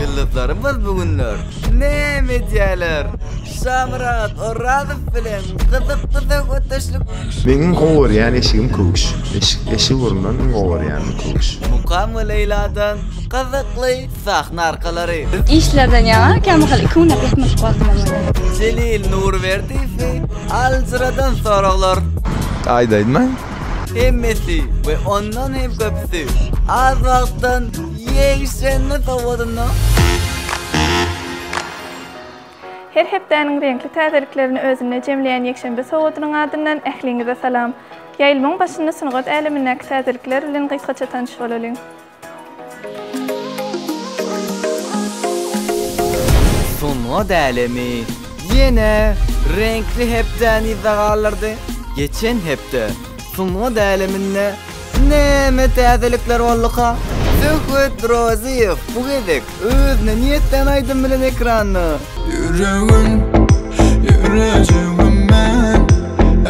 Ýyldyzlarymyz bu günler näme edýärler? Şamyrat Orazow bilen gyzykly söhbetdeşlik. Meniň gowy görýän eşigim köwüş. Eşik, eşik urundan iň gowy görýänim köwüş. Mukam we Leýladan gyzykly sahna arkalary. Işlerden ýaňa kämahal iki güne peýtmedik wagtym bolmaýar. Jelil Nurberdiýew, aljyradan soraglar. Aýdaýynmy? Hemmesi we ondan hem köpüsi az wagtdan ýegşenli sowadynda. Her hepdäniň reňkli täzeliklerini özünde jemleýän ýekşenbe sowadynyň adyndan ähliňize salam! Ýaýlmaň başynda sungat älemindäki täzelikler bilen gysgaça tanyş bolalyň. Sungat älemi ýene reňkli hepdäni yza galdyrdy. Geçen hepde sungat äleminde näme täzelikler bolduka? Söhbet Rozyýew bu gezek Özüne niýetlän aýdym bilen ekranda. Ýüregim, ýürejigim men,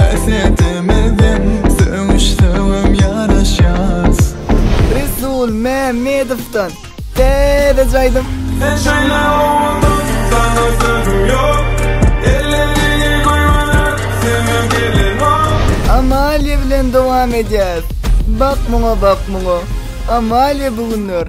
häsiýetimizden sögüş-sögüm ýaraşýas. Resul Mämmedowdan täzeje aýdym. Sen şeýle owadan, sana sözüm ýok, Elleriňi goýberip, söýme gelinok. Amalia bilen dowam edýäs. Bak muňa, bak muňa. Amalia bu günler.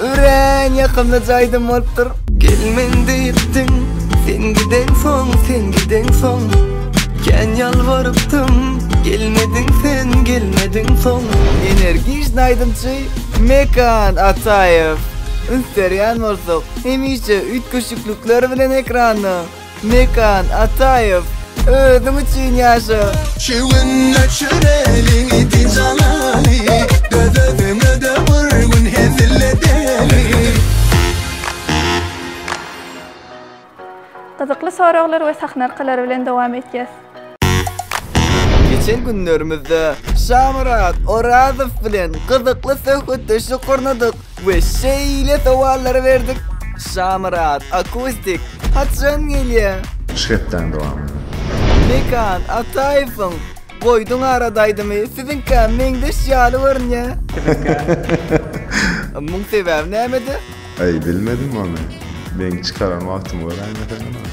Örän ýakymly jaýdym bolupdyr. Gelmen diýipdiň, sen giden soň, sen giden soň. Kän ýalbarypdym, gelmediň sen, gelmediň soň. Energijny aýdymçy Mekan Ataýew. Üns berýän bolsak, hemişe üýtgeşiklikler bilen ekranda. Mekan Ataýew, özüň üçin ýaşa! Çüwün öçür eliňi dijalaly, Döz özüňe-de bir gün hezil edeli. Gyzykly soraglar we sahnarkalar bilen dowam etýäs. Geçen günlerimizde Şamyrat Orazow bilen gyzykly söhbetdeşlik gurnadyk we şeýle sowallary berdik. Şamyrat Akustik haçan gelýär? Üç hepdäň dowamynda. Mekan Ataýewiň Goýduň arada aýdymy siziňkä meňzeş ýaly görünýär. Muň sebäbi nämede? Eý bilmedim ony. Meň çykaran wagtymy göräýmesene men.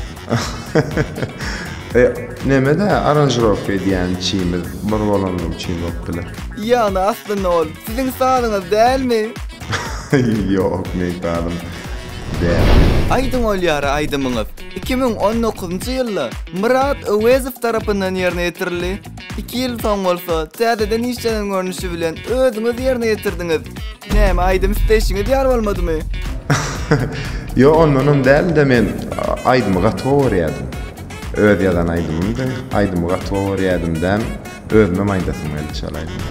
Eý nemede aranžirowka edýän çimiz bir bolany üçin bolup biler. Ýagny aslynda ol siziň sazyňyz dälmi? Ýok meň sazym däl. Aýdyň ol ýary aýdymyňyz iki müň on dokuzynjy ýylda Myrat Öwezow tarapyndan ýerine ýetirildi. Iki ýyl soň bolsa täzeden işlenen görnüşi bilen özüňiz ýerine ýetirdiňiz. Näme, aýdym isleýşiňiz ýar bolmadymy? Ýok, ondanam däl-de, men aýdymy gaty gowy görýärdim. Öz ýazan aýdymymdy. Aýdymy gaty gowy görýärdim däm, özümem aýdasym geldi şol aýdymy.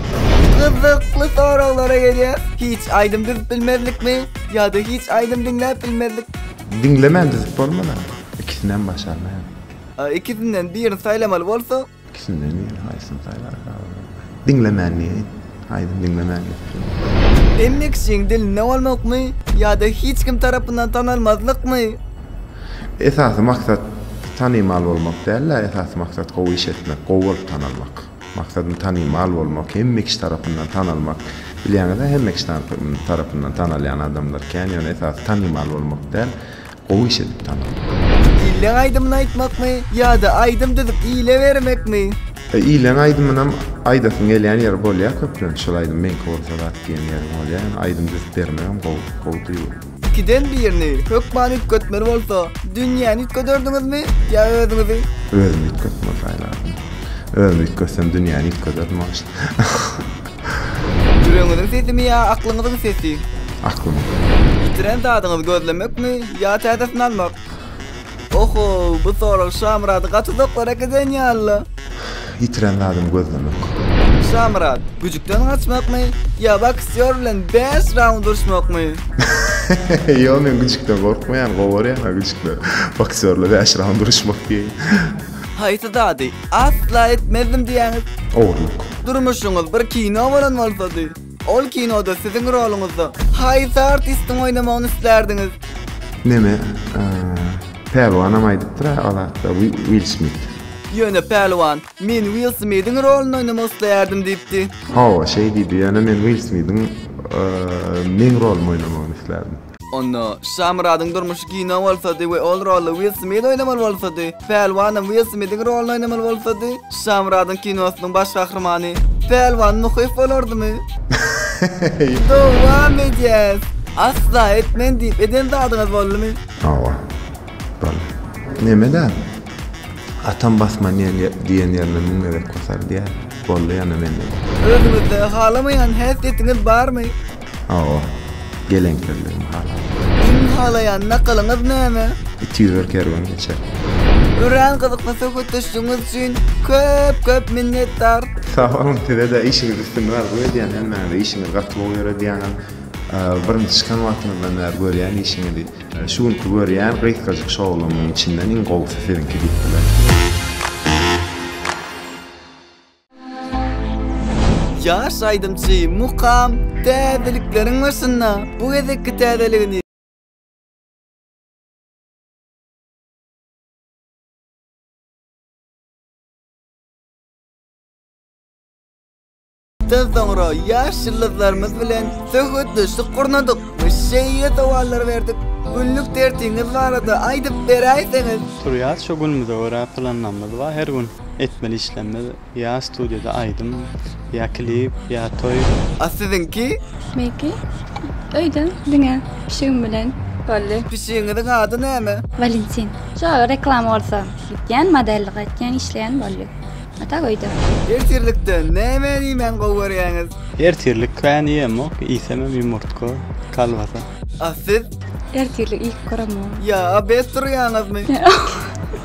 Gyzykly soraglara gelýär. Hiç aýdym düzüp bilmezlikmi? Ýa-da hiç aýdym diňläp bilmezlik? Diňlemän düzüp bolmaz-a. Ikisinem başarmaýan. Ikisinden birini saýlamaly bolsaň? Ikisinden biri haýsyny saýlarka olar. Diňlemän diýeýin. Aýdym diňlemän geçirildi. Emmi kişiň dilinde bolmakmy ýa-da hiç kim tarapyndan tanalmazlykmy? Esasy maksat tanymal bolmak däl-de, esasy maksat gowy iş etmek, gowy bolup tanalmak. Maksadym tanymal bolmak, hemme kişi tarapyndan tanalmak. Bilýäňiz-ä, hemme kişi tarapyndan tanalýan adamlar kän, ýöne esasy tanymal bolmak däl. Gowy iş edipdaň gyzykly. Illeň aýdymyny aýtmakmy ýada aýdym düzüp ile bermekmi. Illeň aýdymynam aýdasyň gelýän ýeri bolýa köplenç şol aýdym meňki bolsa zat diýen ýeriň bolýa ýöne aýdym düzüp bermegem gowy gowy duýgy. Ikiden birini hökman üýtgetmeli bolsa dünýäni üýtgederdiňizmi ýa özüňizi? Özümi üýtgetmeli saýlardym. Özümi üýtgetsem dünýäni üýtgederdim agşam. Ýüregiňiziň sesimi ýa aklyňyzyň sesi? Aklym. Ýitiren zadyňyzy gözlemekmi ýa täzesini almak? Oho, bu sorag Şamyrady gaty doklara äkiden ýalyla. Ýitiren zadymy gözlemek. Şamyrat, güjükden gaçmakmy ýa boksýor bilen bäş raund uruşmakmy? Ýok, men güjükden gorkmaýan, gowarýan-a güjükden. Boksýor bilen bäş raund uruşmak diýeýin. Haýsy zady? Asla etmezdim diýýäňiz. Ogurlyk. Durmuşyňyz bir kino bolan bolsady, ol kinoda siziň roluňyzda haýsy artistiň oýnamagyny islärdiňiz? Neme, Pälwanam aýdypdyr-a ol hakda, Will Smith. Ýöne Pälwan, Men Will Smithiň roluny oýnamak isleýärdim diýipdi. Hawa, şeý diýdi, ýöne men Will Smithiň meň rolumy oýnamagyny islärdim. Onda, Şamyradyň durmuşy kino bolsady we ol roly Will Smit oýnamaly bolsady, Pälwanam Will Smitiň rolyny oýnamaly bolsady, Şamyradyň kinosynyň baş gahrymany Pälwan Muhyýew bolardymy? Dowam edýäs! Asla etmen diýip eden zadyňyz boldumy? Hawa. Boldy. Neme däl? Atam basman ýer diýen ýerine müň gezek basar diýýär. Boldy ýana mende-de. Özüňizde halamaýan häsiýetiňiz barmy? Aw. Geleňsizligimi halaýar. Iň halaýan nakylyňyz näme? It ýüzer kerwen geçer. Örän gyzykly söhbetdeşligiňiz üçin köp köp minnetdar. Sag boluň sizede işiňizde üstünlik arzuw edýän hemmäňize işiňiz gaty gowy ýöredýäňiz birinji çykan wagtyňyzdan bäri görýän işiňizi şu günki görýän gysgajyk şowlumyň içinden iň gowusy siziňki diýip bilerin. Ýaş aýdymçy Mukam täzelikleriň başynda bu gezekki täzeligini Mundan soňra ýaş ýyldyzlarymyz bilen söhbetdeşlik gurnadyk we şeýle sowallar berdik, Günlük tertiňiz barada aýdyp beräýseňiz? Turýas, şu günümize görä planlamyz bar, her gün etmeli işlemler ýa studiýada aýdym ýa klip ýa toý. A siziňki? Meňki öýde diňe pişigim bilen boldy. Pişigiňiziň ady näme? Walentin. Şo reklama bolsa gitýän modellik etýän işleýän boldy. A tak öýde. Ertirlikde nämeni iýmäni gowy görýäňiz? Ertirlik kän iýemok, iýsemem ýumurtga, kolbasa. A siz? Ertirli ilk göremem. Ya abet durýaňyzmy?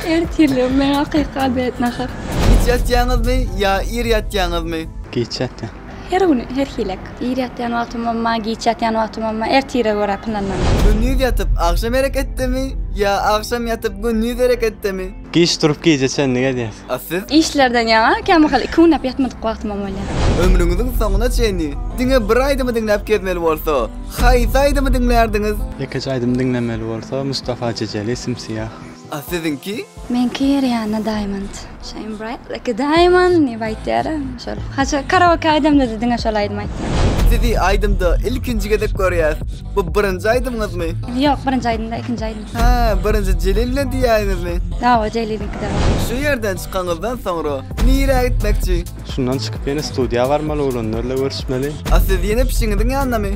Ertirli men hakyky abet nahar. Giç ýatýaňyzmy ýa ir ýatýaňyzmy? Giç ýatýan. Her gün her hilek. Ir ýatýan wagtym bolma, giç ýatýan wagtym bolma, ertire görä pynlanýan. Gündiz ýatyp agşam hereketdemi ýa agşam ýatyp gündiz hereketdemi? Giç durup gije çenli gezýäs. A siz? Işlerden ýaňa kämahal iki günläp ýatmadyk wagtymam bolýar. Ömrüňiziň soňuna çenli diňe bir aýdymy diňläp gezmeli bolsa, haýsy aýdymy diňlärdiňiz? Ýekeje aýdym diňlemeli bolsa Mustafa Jejeli Simsiýah. A siziňki? Meňki Rianna Diamond. Shine bright like a diamond diýip aýtýara şol. Haçan karaoke aýdamda-da diňe şol aýdymy aýtýan. Sizi aýdymda ilkinji gezek görýäs. Bu birinji aýdymyňyzmy? Ýok, birinji aýdym däl, ikinji aýdym. Hä, birinji Jelil bilen diýýäňizmi? Hawa, Jelil iki dagy. Şu ýerden çykaňyzdan soňra nirä gitmekçi? Şundan çykyp ýene studiýa barmaly, oglanlarla görüşmeli. A siz ýene pişiňiziň ýanyndamy?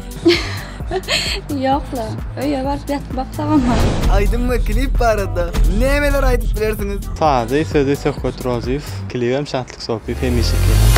Ýok-la, öýe baryp ýatyp baksagam bar. Aýdym we klip barada nämeler aýdyp bilersiňiz? Sazy, sözi Söhbet Rozyýew, klibem Şatlyk Sopyýew hemişeki ýaly.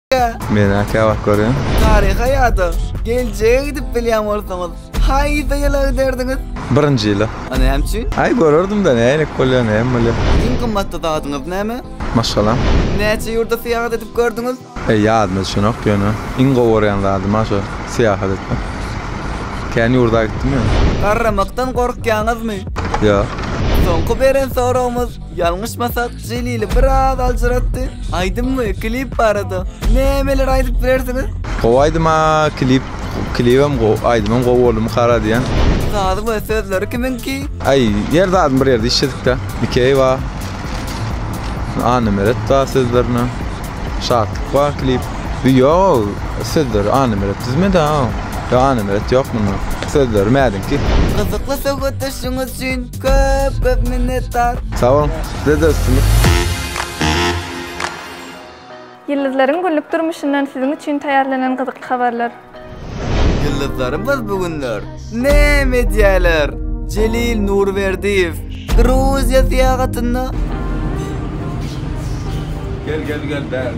Men aka bak görüň. Taryha ýada geljege gidip bilýän bolsaňyz, haýsy ýyla giderdiňiz? Birinji ýyla. A näme üçin? Aý görerdim-de nälik bolýar, näme bolýar. Iň gymmatly zadyňyz näme? Maşgalam. Näçe ýurda syýahat edip gördüňiz? Eý ýadyma düşenok ýöne iň gowy görýän zadym-a şo syýahat etmek. Kän ýurda gitdim ýöne. Garramakdan gorkýaňyzmy? Ýok. Soňky beren soragymyz, ýalňyşmasak, Jelili biraz aljyratdy. Aýdym we klip barada nämeler aýdyp bilersiňiz? Gowy aýdym a klip klibem gowy aýdymam gowy boldumy kara diýen. Sazy we sözleri kimiňki? Aý ýer zadyny bir ýerde işledikda Mikeý bar. Anna Meret bar sözlerine. Şatlyk bar klip. Ýoo sözleri Anna Meret düzmedi a. Ýok Anna Meret ýok munda. Sözleri mädiňki. Gyzykly söhbetdeşligiňiz üçin Köp köp minnetdar. Sag boluň. Sizede üstünlik. Ýyldyzlaryň günlük durmuşyndan siziň üçin taýýarlanan gyzykly habarlar. Ýyldyzlarymyz bu günler näme edýärler? Jelil Nurberdiýew Gruziýa syýahatynda. Gel gel gel bäri.